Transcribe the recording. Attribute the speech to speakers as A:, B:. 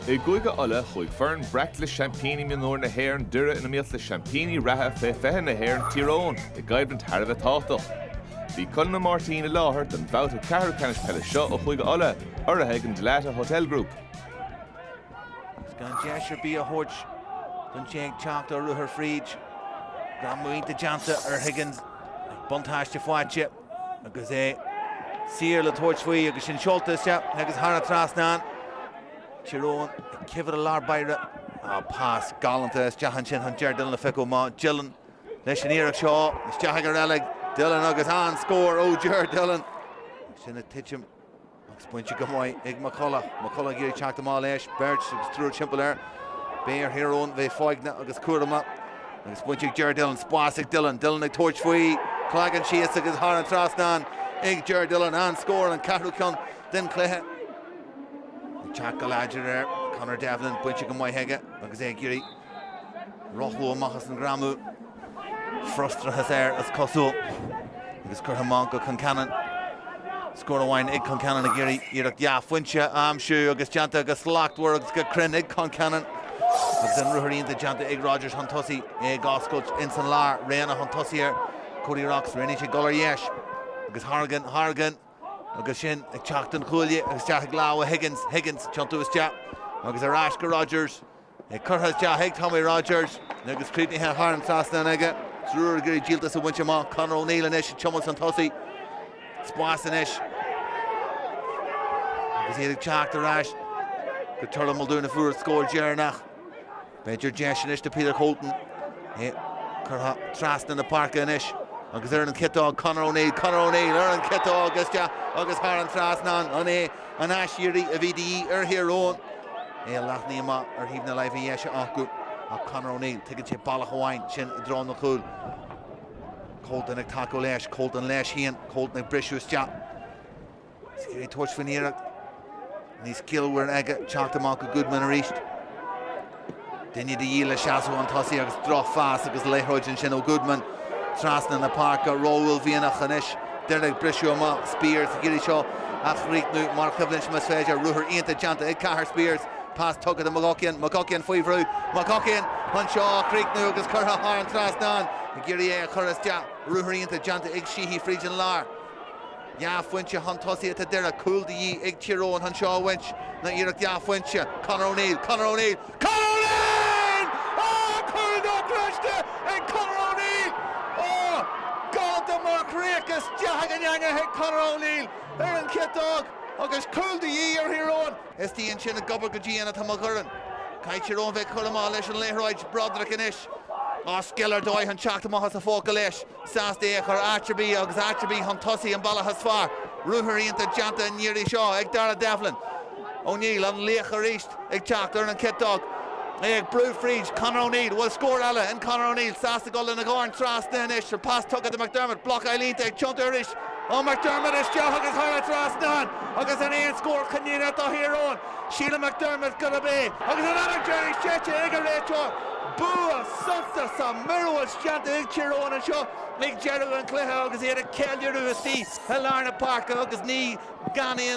A: I gCúige Uladh, chuaigh foireann breac le seaimpíní mionúir na hÉireann, Doire, in iomaíocht le seaimpíní reatha Fé 20 na hÉireann, Tír Eoghain, i gcoimhlint thar a bheith tábhachtach. Bhí Conall Ó Máirtín i láthair don bhabhta ceathrú ceannais peile seo ó Chúige Uladh, urraithe ag an Dalata Hotel Group. Agus gan deis ar bith a thabhairt don té ag teacht ar ruathar fríd. Greim iontach déanta ar Higgins. Buntáiste faighte. Agus é saor le tabhairt faoi agus sin seolta isteach agus thar an trasnán. Tír Eoghain ag cibhir i lár báire. Á, pas galánta isteach ansin chun Ger Dillon a phiocadh amach. Dillon leis an iarracht seo. Isteach ag a reilig. Dillon agus an-scór ó Ger Dillon. Sin ag titim. Agus bainte go maith ag McCullagh. McCullagh ag iarraidh teacht amach leis. Beirt agus triúr timpeall air. Beidh ar Thír Eoghain bheith foighneach agus cúramach. Agus bainte ag Ger Dillon. Spás ag Dillon. Dillon ag tabhairt faoi. Cloigeann síos agus thar an trasnán ag Ger Dillon. An-scór, an ceathrú ceann den chluiche. Ag teacht go láidir air Conor Devlin. Bainte go maith aige agus é ag iarraidh. Rothlú amach as an greamú. Frustrachas air is cosúil agus curtha amach go Concannon. Scór amháin ag Concannon ag iarraidh iarracht dhá phointe a aimsiú agus déanta go slachtmhar agus go cruinn ag Concannon. Agus an ruathar iontach déanta ag Rogers chun tosaigh é ag oscailt ins an lár. Reanna chun tosaigh ar Cody Rocks. Roghnaigh sé dul ar dheis agus Hargan, Hargan agus sin ag teacht ón chuaille agus isteach ag lámha Higgins, Higgins tiontú isteach agus ar ais go Rogers. Curtha isteach ag Tommy Rogers agus críochnaithe thar an trasnán aige. Tír Eoghain ag iarraidh díoltas a bhaint amach. Conor O'Neill anois ag tiomáint chun tosaigh. Spás anois agus iad ag teacht ar ais go Turlough Muldoon a fuair an scór deireanach. B'fhéidir deis anois do Peter Colton. É curtha trasna na páirce anois agus ar an chiotóg Conor O'Neill. Conor O'Neill ar an chiotóg isteach agus thar an trasnán. An é An aiséirí a bhí de dhíth ar Thír Eoghain é leathnaithe amach ar thaobh na láimhe deise acu ach Conor O'Neill, tuigeann sé bealach amháin sin i dtreo an chúil. Colton ag tacú leis, Colton leis féin, Colton ag briseadh isteach. Ag iarraidh tabhairt faoin iarracht níos ciallmhaire aige teacht amach go Goodman arís. Duine de dhíth le seasamh chun tosaigh agus drochphas agus liathróid ansin ó Goodman trasna na páirce. Ró-uaillmhianach anois. Doire ag briseadh amach. Spiers ag iarraidh seo a chríochnú mar choimhlint más féidir. Ruathar iontach déanta ag Cahir Spiers. Pas tugtha do McGuckian. McGuckian faoi bhrú. McGuckian chun seo a chríochnú agus curtha thar an trasnán. Ag iarraidh é a chur isteach. Ruathar iontach déanta ag Sheehy fríd an lár. Dhá phointe chun tosaigh atá Doire, cúl de dhíth ag Tír Eoghain chun seo a bhaint. Nó iarracht dhá phointe. Conor O'Neill, Conor O'Neill, Conor O'Neill! Á! Cúl dochreidte ag Conor O'Neill! Á! Cad é mar chríoch isteach san eangach ag Conor O'Neill ar an chiotóg agus cúl de dhíth ar Thír Eoghain. Istigh ansin ag obair go dian atá McGurren. Caithfidh Tír Eoghain bheith cúramach leis an liathróid, Broderick anois an scil ar dóigh chun teacht amach as an phóca leis. Sásta é a chur áit ar bith agus áit ar bith chun tosaigh an bealach is fearr. Ruathar iontach déanta an iarraidh seo ag Darragh Devlin. O'Neill, an laoch arís, ag teacht ar an chiotóg. É ag brú fríd Conor O'Neill. Bhfuil scór eile in Conor O'Neill. Sásta dul lena dhorn trasna anois. An pas tugtha do McDermott. Blocáil iontach ag tiontú arís ó McDermott. Isteach agus thar an trasnán agus sin an scór cinniúnach do Thír Eoghain. Síleann McDermott gurb é agus an fheadóg dheiridh séidte ag an réiteoir. Bua suntasach, míorúilt. déanta ag Tír Eoghain anseo ag deireadh an chluiche agus iad ag ceiliúradh istigh i lár na páirce agus ní gan aon